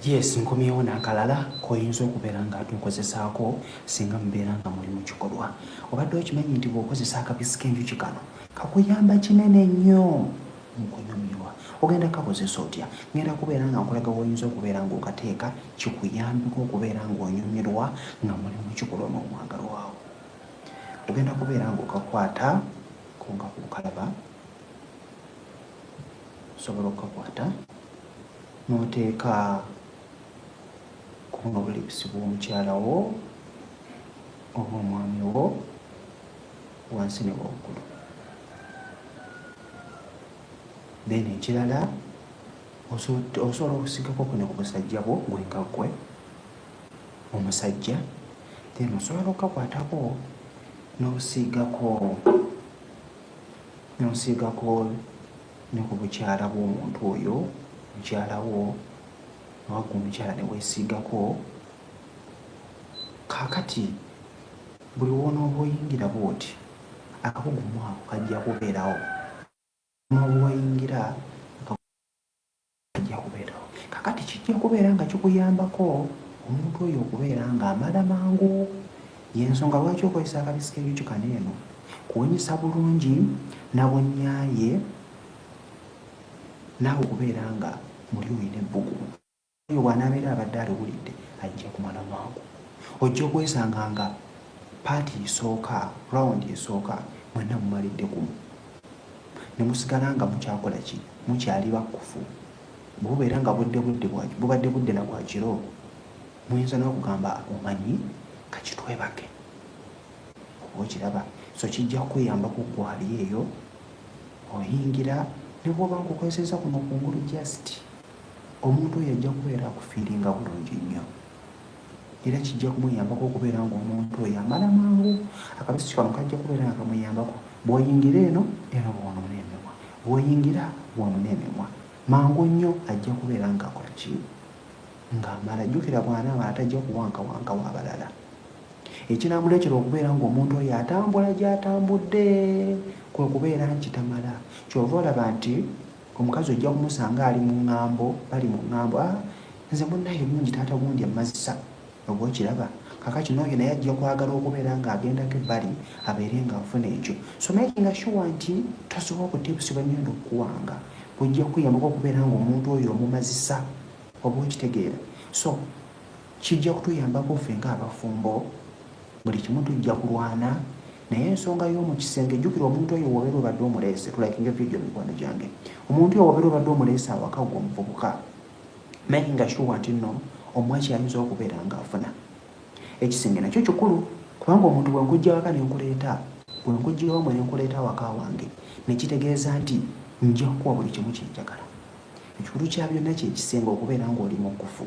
Yes, nkomyewo n'akalala k'oyinza okubeera nga ate okozesaako singa mubeera nga muli mu kikolwa. Obadde okimanyi nti bw'okozesa akabisi k'enjuki kano kakuyamba kinene nnyo mu kunyumirwa? Ogenda kukakozesa otya? Ngenda kubeera nga nkulaga w'oyinza okubeera ng'okateeka kikuyambeko okubeera ng'onyumirwa nga muli mu kikolwa n'omwagalwa wo. Ogenda kubeera ng'okakwata ko nga ku nkalaba. osobola okukakwata n'oteeka ku buno bulipusi bw'omukyala wo oba omwami wo wansi ne waggulu then ekirala osobola okusigako kuno ku busajja bwo gwe nga gwe omusajja then osobola okukakwatako n'osiigako n'osiigako ne ku bukyala bw'omuntu oyo mukyala wo oba gwe omukyala ne weesiigako kaakati buli w'onooba oyingira bw'oti akakugumu ako kajja kubeerawo n'obuwayingira Kijja kubeerawo. Kaakati kijja kubeera nga kikuyambako omuntu oyo okubeera ng'amala mangu. Y'ensonga lwaki okozesa akabisi k'ebijukano eno kuwunyisa bulungi na bunyaaye naawe okubeera nga muli olina ebbugumu. Oyo bw'anaabeera abadde aliwulidde ajja kumala mangu. Ojja okwesanga nga paati esooka, rawundi esooka mwenna mumalidde gumu. ne musigala nga mukyakola ki? Mukyali bakkufu. Bwe bubeera nga budde budde bwa, bubadde budde na bwa kiro, muyinza n'okugamba, Omanyi, ka kitwebake. Oba okiraba? So kijja kukuyamba ku ggwe ali eyo, oyingira, ne bw'oba nkukozesezza kuno kungulu just, omuntu oyo ajja kubeera akufiiringa bulungi nnyo. era kijja kumuyambako okubeera ng'omuntu oyo amala mangu akabisi kano kajja kubeera nga kamuyambako bw'oyingira eno eno bwonona emimwa bw'oyingira bwonona emimwa mangu nnyo ajja kubeera ng'akola ki ng'amala jjukira bw'anaamala tajja kuwankawanka w'abalala ekinaamuleetera okubeera ng'omuntu oyo atambula gy'atambudde kwe kubeera nti tamala kyova olaba nti Omukazi ojja kumusanga ali mu ŋŋambo, bali mu ŋŋambo, Ah, nze munnaye mungi, taata gundi ammazisa. Oba okiraba? Kaakati, n'oyo naye ajja kwagala okubeera nga agendako ebbali, abeere nga afuna ekyo. So makinga sure nti tosobola kutibsibwa nnyo n'okuwanga. Bujja kukuyambako okubeera nga omuntu oyo omumazisa. Oba okitegeera? So. Kijja kutuyambako ffe ng'abafumbo. Buli kimu tujja kulwana naye ensonga y'omu kisenge jjukira omuntu oyo wobeera obadde omuleese tulakinga vidiyo mikwano gyange omuntu oyo wobeera obadde omuleese awaka gwe omuvubuka making nga shuwa nti nno omwaki ayinza okubeera ng'afuna ekisenge nakyo kikulu kubanga omuntu bwe nkujja waka ne nkuleeta bwe nkujja wamwe ne nkuleeta awaka wange ne kitegeeza nti nja kukuwa buli kimu kyenjagala ekikulu kya byonna kye kisenge okubeera ng'oli mu kkufu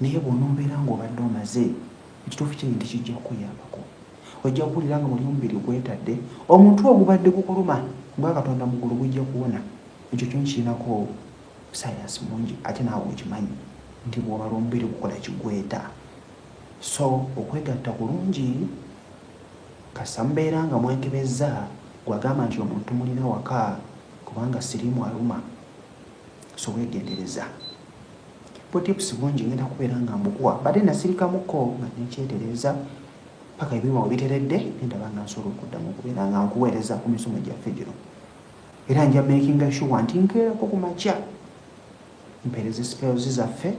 Naye bw'onoobeera ng'obadde omaze, ekituufu kiri nti kijja kukuyambako. Ojja kuwulira nga muli omubiri gwetadde, omutwe ogubadde gukuluma ogwa Katonda mu ggulu gujja kuwona. Ekyo kyo nkirinako ssaayansi mungi ate naawe okimanyi nti bw'obala omubiri gukola kye gweta. So okwegatta kulungi kasita mubeera nga mwekebezza, gwe agamba nti omuntu mulina waka kubanga siriimu aluma. so wegendereza butipusi bungi ngenda kubeera nga mbukuwa bade nasirikamuko nga nekyetereeza paka ebiwuma webiteredde nendaba nga nsobola okuddamu okubeera nga nkuweereza ku misomo gyaffe gino era nja makinga shuwa nti nkeerako ku makya mpeereza spels zaffe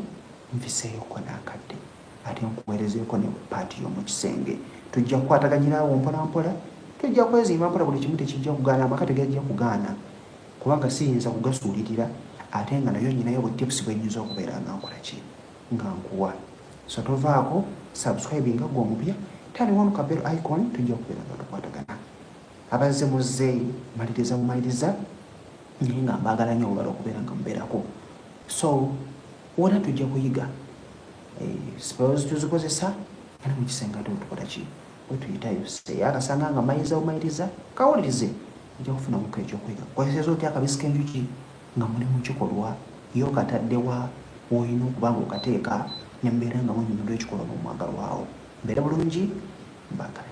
nfiseeyoko nakadde ate nkuweerezeeko ne paati y'omu kisenge tujja kukwataganyiraawo mpolampola tujja kwezimba mpola buli kimu tekijja kugaana amaka tegajja kugaana Kubanga siyinza kugasuulirira ate nga nayo nyinayo bu tips bwenyinza okubeera nga nkolaki nga nkuwa so tovaako subscribinga gwe omupya tali wanu ka bell icon tujja okubeera nga tukwatagana abazze muzze maliriza bumaliriza naye nga mbaagala nyo obala okubeera nga mubeerako so wona tujja kuyiga eh, spells tuzikozesa era mukisenga tutukolaki wetuyitayo seyaakasanga nga mayiriza bumayiriza kawulirize ojja kufunamuko ekyokuyiga kozeseza otya akabisi kenjuki nga muli mukikolwa ye okataddewa woolina okuba nga okateeka nembeera nga munyumirwa ekikolwa nomwagalwawo mbeera bulungi mbagala